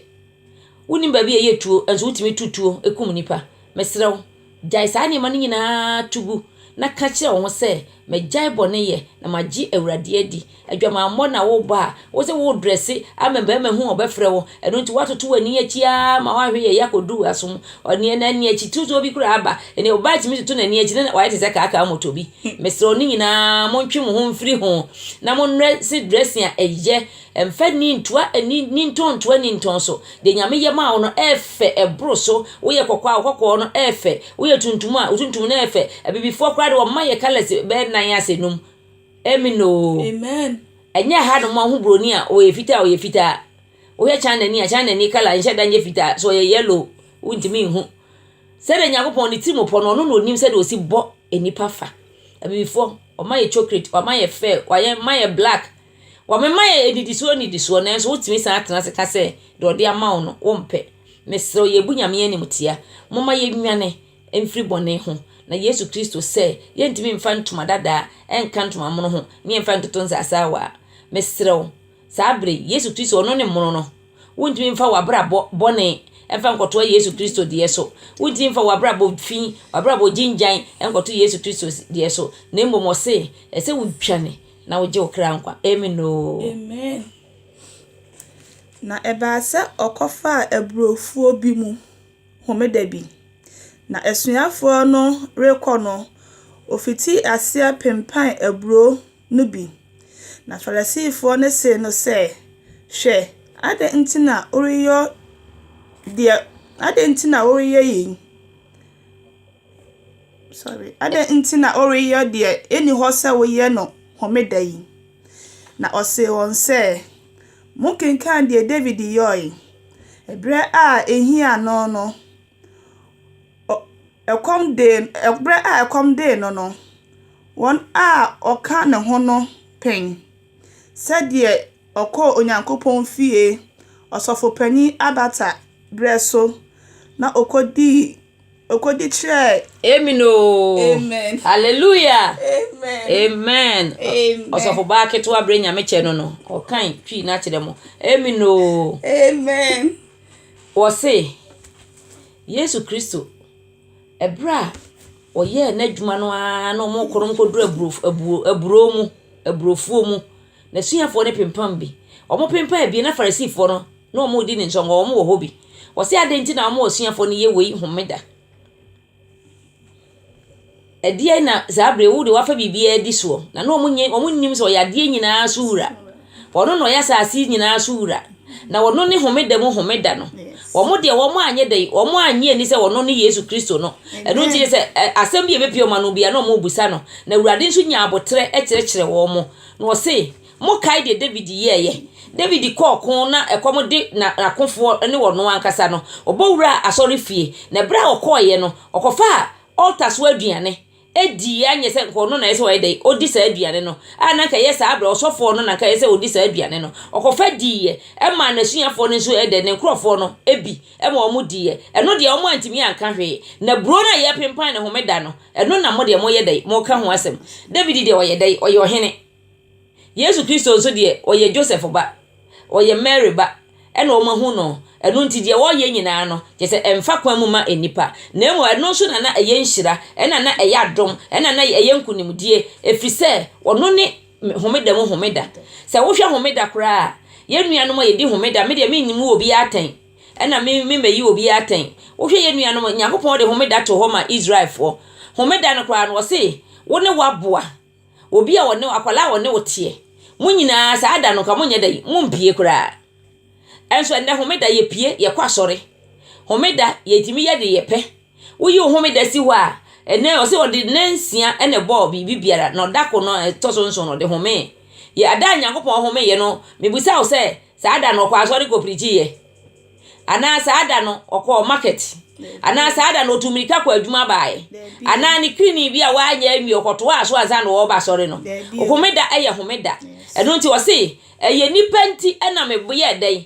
Wonim baabi a yɛyɛ tuo nso wotumi tu tuo kum nnipa. Mesrɛ wo. Gyae saa nneɛma no nyinaa to gu na ka kyerɛ wo ho sɛ, 'Magyae bɔne yɛ na magye Awurade adi. Adwamammɔ na worebɔ a wo sɛ woredrɛse ama mmarima hu a wɔbɛfrɛ wo. Ɛno nti woatoto w'ani akyi ara ma woahwe yɛyɛ akɔduru w'asom. Ɔne na ani akyi tutuo bi koraa aba. Ɛnneɛ ɔbaa tumi toto n'ani akyi na wayɛ te sɛ kaakaa mmɔtɔ bi. Mesrɛ wo ne nyinaa montwe mo ho mfiri ho na mommrɛ se dressing a ɛyɛ Mfa nni ntoa nni nni ntɔn ntoa nni ntɔn so. Deɛ Nyame yɛ maa wo no ɛɛfɛ ɛboro so. Woyɛ kɔkɔɔ a wo kɔkɔɔ no ɛɛfɛ. Woyɛ tuntum a wo tuntum no ɛɛfɛ. Abibifoɔ koraa deɛ wɔma yɛ colours bɛyɛ nan ase num. Amen oo. Amen. Ɛnyɛ ɛha nom a wohu broni a ɔyɛ fitaa a ɔyɛ fitaa. Wohwɛ China ni a China ni colour nhyɛ da nyɛ fitaa. Sɛ ɔyɛ yellow wontumi nhu. Sɛdeɛ Nyankopɔn ne tirim pɔ no ɔno na ɔnim sɛdeɛ ɔsi bɔ nnipa fa. Abibifoɔ wɔma yɛ chocolate, wɔma yɛ fair, wɔma yɛ black. Wɔmema yɛn nnidisoɔ nnidisoɔ nanso wotumi san tena ase ka sɛ deɛ ɔde ama wo no wompɛ. Mesrɛ wo yɛbu Nyame animtia. Momma yɛnnwane mfiri bɔne ho na Yesu Kristo sɛ yɛntumi mfa ntoma dadaa nka ntoma mono ho ne yɛmfa ntoto nsase awaa. Mesrɛ wo saa berɛ yi Yesu Kristo ɔno ne mono no. Wontumi mfa w'abrabɔ bɔne mfa nkɔtoa Yesu Kristo deɛ so. Wontumi mfa w'abrabɔ fi, w'abrabɔ gyingyan nkɔto Yesu Kristo deɛ so. Na mmom ɔse ɛsɛ wodwane Na wogye wo kra nkwa. Amen oo. Amen. Na ɛbaa sɛ ɔkɔfaa aburofuo bi mu homeda bi, na asuafoɔ no rekɔ no, ɔfitii aseɛ pempaan aburo no bi. Na Farisifoɔ no see no sɛ, Hwɛ, adɛn nti na woreyɔ deɛ, adɛn nti na woreyɛ yei? Sorry. Adɛn nti na woreyɛ deɛ ɛnni hɔ sɛ woyɛ no homeda yi? Na ɔsee wɔn sɛ, Monkenkan deɛ Dawid yɔe, ɛberɛ a ɛhiaa no no, ɛkɔm dee, ɛberɛ a ɛkɔm dee no no, wɔn a wɔka ne ho no pen, sɛdeɛ ɔkɔɔ Onyankopɔn fie ɔsɔfopanin abata berɛ so, na ɔkɔdii Okodi kyerɛɛ. Amen oo. Amen. Hallelujah. Amen. Amen. Amen. Ɔsɔfo baa ketewa bere nyame kyɛ no no. Ɔkan twi na kyerɛ mo. Amen oo. Amen. Wɔse Yesu Kristo ɛbere a ɔyɛɛ n'adwuma no ara na wɔn kɔnɔm kɔduru aburo aburo mu aburofuo mu. N'asuafoɔ no pempam bi. Wɔn pempam bi na Farisifoɔ no. na wɔredi no nsongo, wɔwɔ hɔ bi. Wɔse adɛn nti na wɔn asuafoɔ no yɛ wei homeda? Ɛdeɛn na saa berɛ yi wo deɛ woafa biribiara adi soɔ? Na na wɔnyɛ, wɔnnim sɛ ɔyɛ adeɛ nyinaa so wura. Ɔno na ɔyɛ asase nyinaa so wura. Na ɔno ne homeda mu homeda no. Wɔn deɛ wɔn anyɛ dɛn, wɔn annye ani sɛ ɔno ne Yesu Kristo no. Ɛno nti sɛ ɛ, asɛm bi a ɛbɛpue wɔn ano biara na wɔbisa no. Na Awurade nso nya aboterɛ kyerɛkyerɛ wɔn. Na ɔse, Mokae deɛ Dawid yɛeɛ? Dawid kɔɔ ɔko na ɛkɔm de n'akofoɔ ne ɔno ankasa no, ɔbɔ wuraa asɔrefie. Na berɛ a ɔkɔeɛ no, ɔkɔfaa altar so aduane diiɛ. Anyɛ sɛ anka ɔno na ɛyɛ sɛ ɔyɛ dɛn? Ɔdi saa aduane no. A na anka ɛyɛ saa berɛ, ɔsɔfoɔ no na anka ɛyɛ sɛ ɔdi saa aduane no. Ɔkɔfa diiɛ. Ɛmaa n'asuafoɔ no nso ɛyɛ dɛn? Ne nkurɔfoɔ no bi ma wɔn diiɛ. Ɛno deɛ, wɔantumi anka hwee. Na buro no a yɛpenpan no Homeda no, ɛno na mo deɛ moyɛ dɛn? Moka ho asɛm. Dawid deɛ, ɔyɛ dɛn? Ɔyɛ ɔhene. Yesu Kristo nso deɛ, ɔyɛ Joseph ba, ɔyɛ Mary ba, ɛna wɔahunu no, ɛno nti deɛ ɔreyɛ nyinaa no, kyerɛ sɛ ɛmfa kwan mu ma nnipa, na mmom ɛno nso na na ɛyɛ nhyira, ɛna na ɛyɛ adom, ɛna na ɛyɛ nkonimdie, ɛfiri sɛ ɔno ne homeda mu homeda. Sɛ wohwɛ homeda koraa a, yɛn nuanom a yɛdi homeda, me deɛ menmu obiara atɛn, ɛna me memmɛyi obiara atɛn, wohwɛ yɛn nuanom, Nyankopɔn de homeda too hɔ maa Israelfoɔ, homeda no koraa no, ɔse, wo ne w'aboa Obi a ɔne wo, akwadaa a ɔne wo teɛ. Mo nyinaa, saa da no, nka monyɛ dɛ, mompie koraa. Ɛnso ɛnnɛ, homeda, yɛpie, yɛkɔ asɔre. Homeda, yɛtumi yɛ deɛ yɛpɛ. Woyi wo homeda si hɔ a, ɛnnɛ, ɔse ɔde nna nsia na ɛbɔɔ biribi biara, na ɔda ko no a ɛtɔ so nson no, ɔde homee. Yɛ ada a Nyankopɔn homeeɛ no, mebisa wo sɛ, saa da no, ɔkɔɔ asɔre kɔpirikyiiɛ? Anaa saa da no ɔkɔɔ market. Anaa saa da no ɔtu mmirika kɔ adwuma baeɛ. Anaa ne krini bi a wanyɛ anwie ɔkɔtoaa so ansa na ɔreba asɔre no. Homeda yɛ homeda. Ɛno nti ɔse ɛyɛ nipa nti na meyɛɛ dɛn?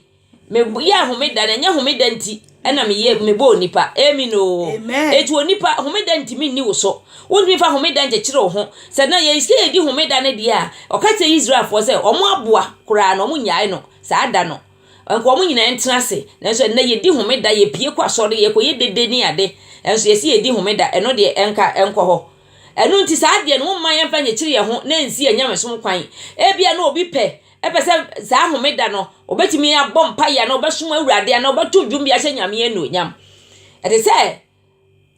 Meyɛɛ homeda na ɛnyɛ homeda nti na meyɛ mebɔɔ nipa. Amen oo. Eti onipa homeda ntumi nni wo so. Wontumi fa homeda nkyekyere wo ho. Sɛ na yɛn sɛ yɛdi homeda no deɛ a ɔka kyerɛ Israelfoɔ sɛ wɔn aboa koraa no wɔn nyae no saa da no. Anka wɔn nyinaa ntena ase. Nanso ɛnnɛ yɛdi homeda, yɛpue kɔ asɔre, yɛkɔyɛ dede ne ade, nanso yɛse yɛredi homeda. Ɛno deɛ, ɛnka ɛnkɔ hɔ. Ɛno nti saa adeɛ no, momma yɛmfa nnyekyere yɛn ho na ɛnsi yɛn nyamesom kwan. Ebia na obi pɛ, ɛpɛ sɛ saa homeda no, ɔbɛtumi abɔ mpaeɛ anaa ɔbɛsom Awurade anaa ɔbɛto dwom bi ahyɛ Nyame anuonyam. Ɛte sɛ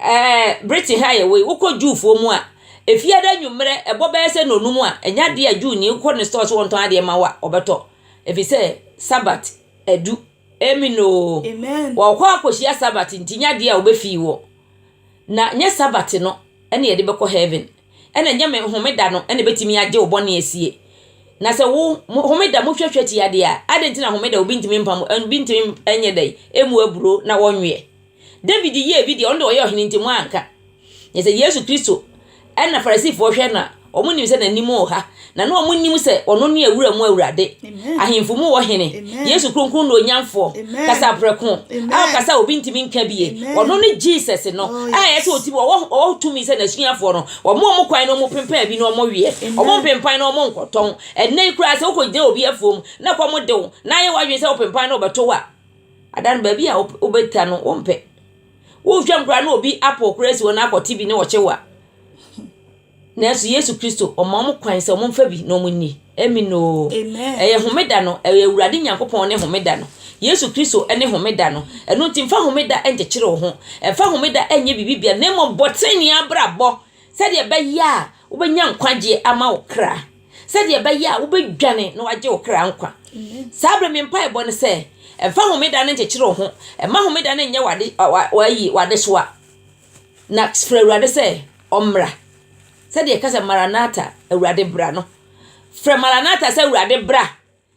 Ɛɛ Britain ha a yɛwɔ yi, wokɔ Jewfoɔ mu a, efiada anwummerɛ, ɛbɔ bɛyɛ sɛ nnɔnum a, ɛnyɛ adeɛ a Jewni kɔ ne store sɛ ɔntɔn adeɛ ma wo a, ɔbɛtɔ. Ɛfiri sɛ, Sabbat adu. Amen oo. Amen. Wɔkɔ akɔhyia Sabbat nti, nyɛ adeɛ a wobɛfii wɔ. Na nyɛ Sabbat no ɛna yɛde bɛkɔ heaven. Ɛna nyɛ me homeda no ɛna ɛbɛtumi agye wo bɔne asie. Na sɛ wo homeda mohwɛhwɛ tia deɛ a, adɛn nti na homeda obi ntumi mpam, obi ntumi nyɛ dɛn, ɛmu aburo na ɔnweɛ. David yɛɛ bi deɛ, ɔno deɛ ɔyɛ ɔhene nti wɔanka. Na sɛ Yesu Kristo na Farisifoɔ hwɛ no a, wɔnim sɛ n'anim wɔ ha. Na na wɔnim sɛ ɔno ne awura mu awurade, ahemfo mu ɔhene, Yesu kronkron na onyamfoɔ, kasaprɛko a ɔkasa a obi ntumi nka bie. Ɔno ne Jesus no oh, a ɛyɛ sɛ ɔtumi ɔwɔ ɔwɔ tumi sɛ n'asuafoɔ no wɔn wɔn kwan na wɔn pempan bi na wɔn weɛ, wɔn mpempan na wɔn nkɔtɔn. Ɛnna yi koraa sɛ wokɔgyina obi afuom na kɔm de wo na ayɛ w'adwene sɛ wopempan na wɔbɛto wo a, Ada no, baabi a wobɛda no, wompɛ. Wohwɛ mu koraa na obi apaw koro asi hɔ na akɔte bi ne wo kyewa. Nanso Yesu Kristo, ɔma wɔn kwan sɛ wɔmfa bi na wɔnni. Amen oo. Ɛyɛ homeda no, ɛyɛ Awurade Nyankopɔn ne homeda no. Yesu Kristo ne homeda no. Ɛno nti, mfa homeda nkyekyere wo ho. Mfa homeda nyɛ biribi biara, na mmom bɔ trenee abrabɔ sɛdeɛ ɛbɛyɛ a, Wobɛnya nkwagyeɛ ama wo kra sɛdeɛ ɛbɛyɛ a wobɛdwane na wagye wo kra nkwa. Saa berɛ me mpaebɔ ne sɛ, ɛmfa homeda no nkyekyere wo ho, ɛma homeda no nyɛ wade, wa, wayi, wadesoa. Na frɛ Awurade sɛ ɔmmra. Sɛdeɛ ɛka sɛ Maranata, Awurade bra no. Frɛ Maranata sɛ Awurade bra.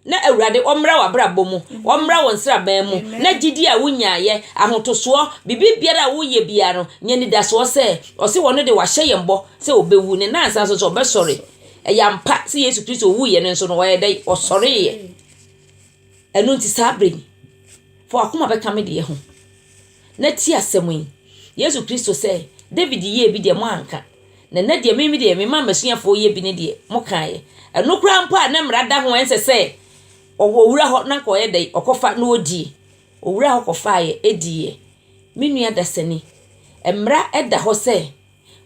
Na Awurade ɔmmra w'abrabɔ mu, ɔmmra wo nsraban mu, na gyidie a wonyaeɛ, ahotosoɔ, biribi biara a woyɛ biara no, nya anidasoɔ sɛ, ɔse ɔno deɛ wahyɛ yɛn bɔ sɛ ɔbɛwu, ne nnansa nso sɛ ɔbɛsɔre. Ɛyɛ ampa sɛ Yesu Kristo wuiɛ no nso no ɔyɛɛ dɛn? Ɔsɔreeɛ. Ɛno nti saa berɛ yi, fa w'akoma bɛka me deɛ ho. na tie asɛm yi, Yesu Kristo sɛ, David yɛɛ bi deɛ moanka, na nɛ deɛ meme deɛ memaa m'asuafoɔ yɛ bi ne deɛ mokaeɛ. Ɛno koraa mpo a na mmara da ho ɛnsɛ sɛ ɔwɔ owura hɔ na nka ɔyɛ dɛn, ɔkɔfa na ɔdie. Owura hɔ kɔfaaeɛ diiɛ. Me nua dasani, mmara da hɔ sɛ.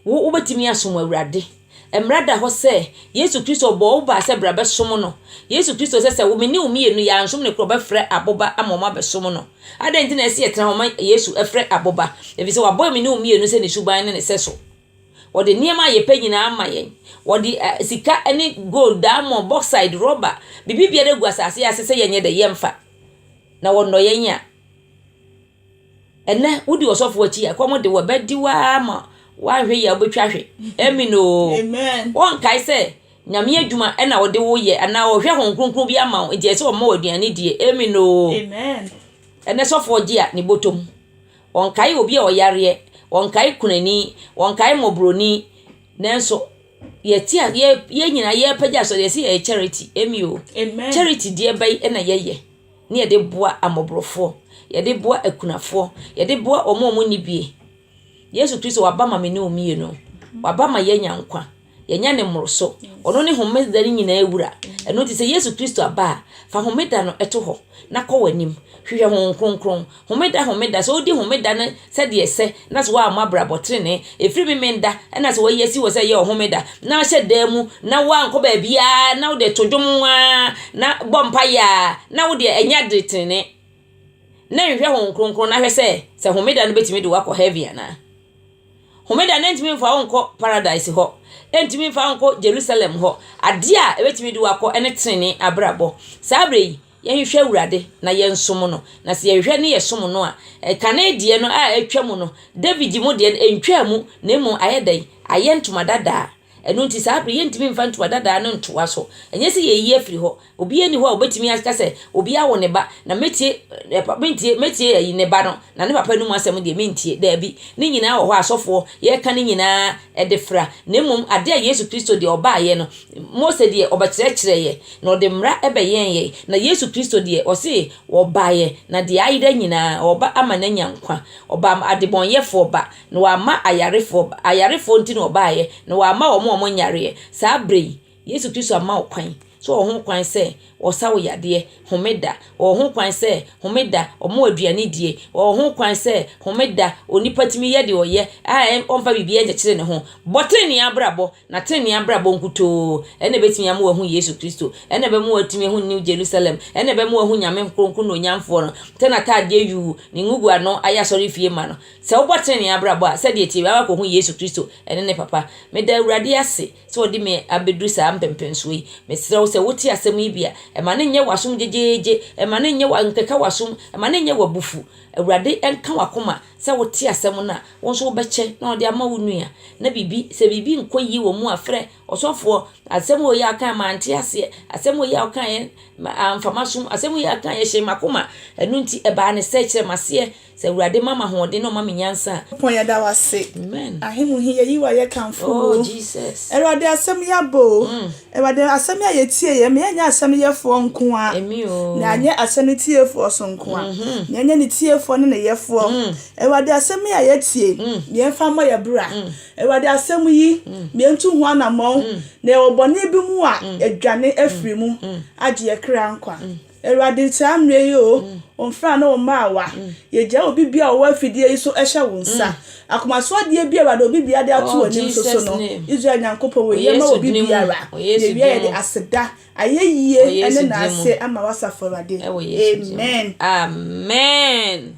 Wo, wobɛtumi asom Awurade. Mmara da hɔ sɛ, Yesu Kristo bɔɔ wo baa sɛ bra bɛsom no. Yesu Kristo sɛ sɛ wo, me ne wo mmienu yɛ ansom no korɔ, ɔbɛfrɛ aboba ama wɔn abɛsom no. Adɛn nti na ɛsɛ yɛtena hɔ ma Yesu frɛ aboba? Efisɛ wabɔ me ne wo mmienu sɛ ne suban ne ne sɛso. Ɔde nneɛma a yɛpɛ nyinaa ama yɛn. Ɔde ɛ, sika ne gold, diamond, bauxite, rɔba, biribi biara agu asase ase sɛ yɛnyɛ dɛ, yɛmfa. Na ɔnnɔ yɛn a. Ɛnnɛ, wodi ɔsɔfo akyi a, ɛkɔm de wo a, ɛbɛde wo ara ma woahwe yɛ a wobɛtwa hwe. Amen oo. Wɔnkae sɛ Nyame adwuma na ɔde wo yɛ anaa ɔhwɛ Honhom Kronkron bi ama wo nti ɛsɛ sɛ ɔma wo aduane die. Amen oo. Ɛnnɛ sɔfoɔ gye a ne bɔtɔm. Ɔnkae obi a ɔyareɛ, ɔnkae kunani, ɔnkae mmɔborɔni. Nanso yɛte a yɛ yɛn nyinaa yɛrepagya asɔre yɛse yɛyɛ charity. Amen oo. Charity deɛ bɛn na yɛyɛ? Ne yɛde boa amɔborofoɔ, yɛde boa akunafoɔ, yɛde boa wɔn a wɔnni bie. Yesu Kristo waba ma me ne wo mmienu. Waba ma yɛanya nkwa. Yɛanya ne mmoroso. Ɔno ne homeda no nyinaa wura. Ɛno nti sɛ Yesu Kristo aba a, fa homeda no to hɔ na kɔ w'anim. Hwehwɛ Honhom Kronkron. Homeda Homeda, sɛ wodi Homeda no sɛdeɛ ɛsɛ, na sɛ woammɔ abrabɔ trenee, ɛfiri Memenda, ɛna sɛ wɔayi asi hɔ sɛ ɛyɛ Ɔhomeda, na ahyɛ da mu, na woankɔ baabiara, na wode to dwom ara, na bɔ mpaeɛ ara, na wodeɛ ɛnyɛ ade trenee, na nhwɛ Honhom Kronkron na hwɛ sɛ, sɛ Homeda no bɛtumi de wo akɔ Heaven anaa. Homeda no ɛntumi mfa wo nkɔ Paradise hɔ, ɛntumi mfa wo nkɔ Jerusalem hɔ, adeɛ a ɛbɛtumi de wo akɔ ɛne trenee abrabɔ. Saa berɛ yi, Yɛnhwehwɛ Awurade na yɛnsom no, na sɛ yɛhwehwɛ ne yɛsom no a, kane deɛ no a atwa mu no, David mu deɛ no, ɛntwaa mu, na mmom ayɛ dɛn? Ayɛ ntoma dadaa. Ɛno nti saa bere yɛntumi mfa ntoma dadaa no ntoa so. Ɛnyɛ sɛ yɛayi afiri hɔ. Obiara nni hɔ a ɔbɛtumi aka sɛ, obi awo ne ba, na mɛtie, mentie, mɛtie ayi ne ba no, na ne papa anum asɛm deɛ mentie. Daabi. Ne nyinaa wɔ hɔ a asɔfoɔ yɛka ne nyinaa de fra, na mmom adeɛ a Yesu Kristo deɛ ɔbaeɛ no, Mose deɛ ɔbɛkyerɛkyerɛeɛ. Na ɔde mmara bɛyɛn yɛn. Na Yesu Kristo deɛ, ɔse ɔbaeɛ, na deɛ ayera nyinaa, ɔba ama no anya nkwa. Ɔba adebɔnyɛfoɔ ba, na wamma ayarefoɔ ba. Ayarefoɔ nti na ɔbaeɛ, na wamma wɔn a wɔnyareɛ. Saa berɛ yi, Yesu Kristo ama wo kwan. So ɔwɔ ho kwan sɛ ɔsa wo yadeɛ homeda? Ɔwɔ ho kwan sɛ homeda ɔma wo aduane die? Ɔwɔ ho kwan sɛ homeda onipa tumi yɛ deɛ ɔyɛ a ɔmfa biribiara nkyekyere ne ho? Bɔ tenenee abrabɔ Na trenee abrabɔ nkutoo na ɛbɛtumi ama wahu Yesu Kristo, ɛna ɛbɛma watumi ahu New Jerusalem, ɛna ɛbɛma wahu Nyame Nkronkron na Onyamfoɔ no, sɛ n'ataadeɛ yuu, ne ngugu ano ayɛ asɔrefie ma no. Sɛ wobɔ trenee abrabɔ a, sɛdeɛ ɛteɛ biara wakɔhu Yesu Kristo ne ne Papa. Meda Awurade ase sɛ ɔde me abɛduru saa mpɛmpɛnsoɔ yi. Mesrɛ wo sɛ wote asɛm yi bi a, ɛma no nyɛ w'asom gyegyeegye, ɛma no nyɛ, nkeka w'asom, ɛma no nyɛ w'abufu. Awurade nka w'akoma. Sɛ wote asɛm no a, wo nso wobɛkyɛ na wɔde ama wo nua. Na biribi, sɛ biribi nkɔ yie wɔ mu a, frɛ ɔsɔfoɔ. Asɛm wei a wokaeɛ, mante aseɛ. Asɛm wei a wokaeɛ, amfa m'asom. Asɛm wei a wokaeɛ, ɛhyɛɛ m'akoma. Ɛno nti, ɛbaa no sɛɛ. Kyerɛ m'aseɛ. Sɛ Awurade ma me ahoɔden na ɔma me nyansa a. Nyankopɔn yɛda wo ase. Amen. Ahe mu he yɛyi wo ayɛ kamfo wo. Oh Jesus. Awurade asɛm yɛ aba o. Mm. Awurade, asɛm yi a yɛtie yɛ, ma yɛnyɛ asɛm no yɛfoɔ nko ara, na anyɛ asɛm no tiefoɔ nso nko ara, na yɛnyɛ ne tiefoɔ ne ne yɛfoɔ. Awurade, asɛm yi a yɛatie yi, ma yɛmfa mmɔ yɛn bra. Awurade, asɛm yi, ma yɛntu ho anammɔn, na yɛwɔ bɔne bi mu a, yɛadwane afiri mu, agye yɛn kra nkwa. Awurade nsaa mmerɛ yi oo, wo mfenaa ne wo mmaawa, yɛgyae obi biara a ɔwɔ afidie yi so hyɛ wo nsa. Akomaso adeɛ biara a Awurade obi biara de ato w'anim nso so no, Israel Nyankopɔn wɔ yie ma obi biara. Yɛwie a yɛde aseda, ayɛyie ne naase ma w'asafo Awurade. Amen. Amen.